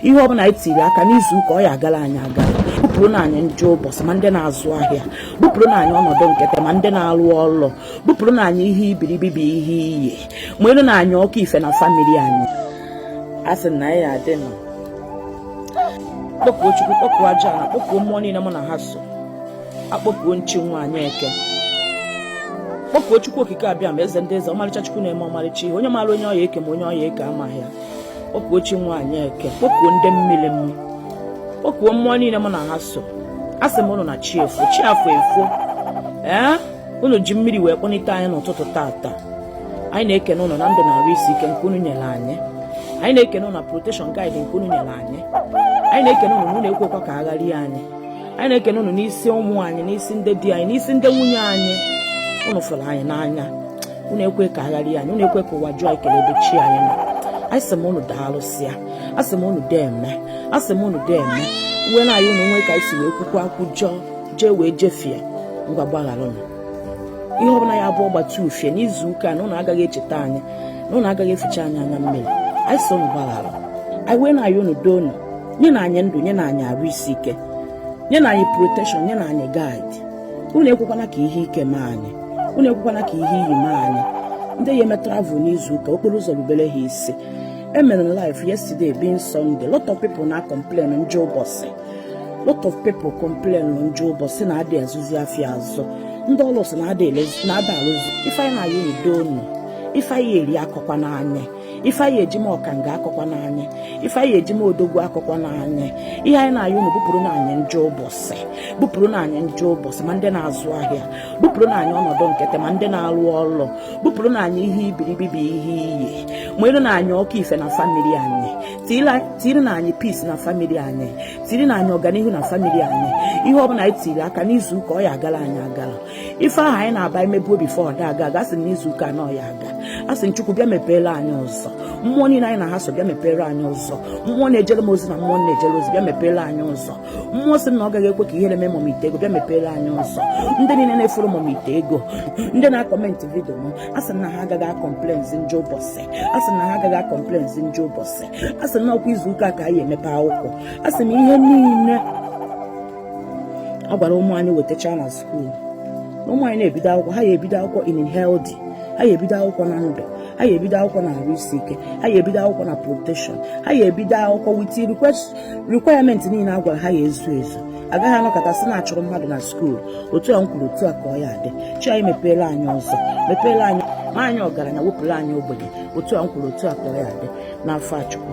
ihe ọbụla anyị tiri aka n'izu ụka ọ ya agara anyị agara bupụrụ na anyị njọ ụbọchị ma ndị na-azụ ahịa bupụrụ na anyị ọnọdụ nkịtị ma ndị na-alụ ọlụ bupụrụ na anyị ihe ibiribi bụ ihe iyi mụara na anyị ọkụ ife na famili anyị a sị na anyị adị nọ kpọkuo chukwu kpọkuo aja ana kpọkuo mmụọ niile mụ na ha so akpọkuo m chi nwaanyị eke kpọkuo chukwu okike abịama eze ndị eze ọmarịcha chukwu na-eme ọmarịcha ihe onye maara onye ọ ya eke ma onye ọ ya eke amaghị ya kpọkuo chi nwaanyị eke kpọkuo ndị mmiri m kpọkuo mmụọ niile mụ na ha so a sị m ụnụ na chi efo chi afọ efo ee unu ji mmiri wee kpọnite anyị n'ụtụtụ tata anyị na-ekene ụnụ na ndụ na arụ isi ike nke unu nyere anyị anyị na-ekene ụnụ na protection guide nke unu nyere anyị anyị na-ekene ụnụ na unu ekwekwa ka agharịa anyị anyị na-ekene ụnụ n'isi ụmụ anyị n'isi ndị di anyị n'isi ndị nwunye anyị ụnụ fụrụ anyị n'anya unu ekwe ka agharị anyị unu ekwe ka ụwa jụọ ekele ebe chi anyị nọ anyị sị m unu daalụsịa asị m unu deme asị m unu deme wee na-ayịọ unu o nwee ka anyị si wee kwukwa kwujọọ jee wee jefie ngwa gbaghara unu ihe ọbụla ya abụ ọgbata ufie n'izu ụka na unu agaghị echeta anyị na unu agaghị eficha anyị anya mmiri anyị sị unu gbaghara anyị wee na-ayịọ unu doo unu nye na anyị ndụ nye na anyị arụ isi ike nye na anyị protection nye na anyị guide unu ekwekwana ka ihe ike mee anyị unu ekwekwana ka ihe iyi mee anyị ndị ya eme travel n'izu ụka okporo ụzọ rubere ha isi emere m live yesterday being Sunday lot of people na complain njọ ụbọchị lot of people complain njọ ụbọchị na adị azụzi afịa azụ ndị ọlụ sị na a da alụzi ife anyị na-ayịọ doo unu ife anyị eri akọkwana anyị ife anyị eji ma ọkanga akọkwana anyị ife anyị eji ma odogwu akọkwana anyị ihe anyị na-ayịọ unu bupụrụ na anyị njọ ụbọchị bupụrụ na anyị njọ ụbọchị ma ndị na-azụ ahịa bupụrụ na anyị ọnọdụ nkịtị ma ndị na-alụ ọlụ bupụrụ na anyị ihe ibiribi bụ ihe iyi mụara na anyị ọkụ ife na famili anyị tiri na anyị peace na famili anyị tiri na anyị ọganihu na famili anyị ihe ọ bụla anyị tiri aka n'izu ụka ọ ya agara anyị agara ife ahụ anyị na-aba emebuo before ọ da aga aga sị n'izu ụka a na ọ ya aga a sị m chukwu bịa mepeere anyị ụzọ mmụọ niile anyị na ha so bịa mepeere anyị ụzọ mmụọ na-ejere m ozi na mmụọ m na-ejere ozi bịa mepeere anyị ụzọ mmụọ sị na ọ gaghị ekwe ka ihe na-eme mọm ite ego bịa mepeere anyị ụzọ ndị niile na-afollow mọm ite ego ndị na-acomment video m a sị na ha agaghị akọmplenzi njọ ụbọchị a sị na ha agaghị akọmplenzi njọ ụbọchị a sị na ọkwa izu ụka ka anyị emepe akwụkwọ a sị na ihe niile a gwara ụmụ anyị wetacha na skuul ụmụ anyị na-ebido akwụkwọ ha ya ebido akwụkwọ in healthy ha ya ebido akwụkwọ na ndụ ha ya ebido akwụkwọ na arụ isi ike ha ya ebido akwụkwọ na protection ha ya ebido akwụkwọ with requirement niile a gwara ha ya ezu ezu a gaghị anọkata sị na a chụrụ mmadụ na skuul otu a m kwuru otu a ka ọ ya adị chi anyị mepeela anyị ụzọ mepeela anyị ma anyị ọgaranya wepụrụ anyị ogbenye otu a m kwuru otu a ka ọ ya adị n'afa chukwu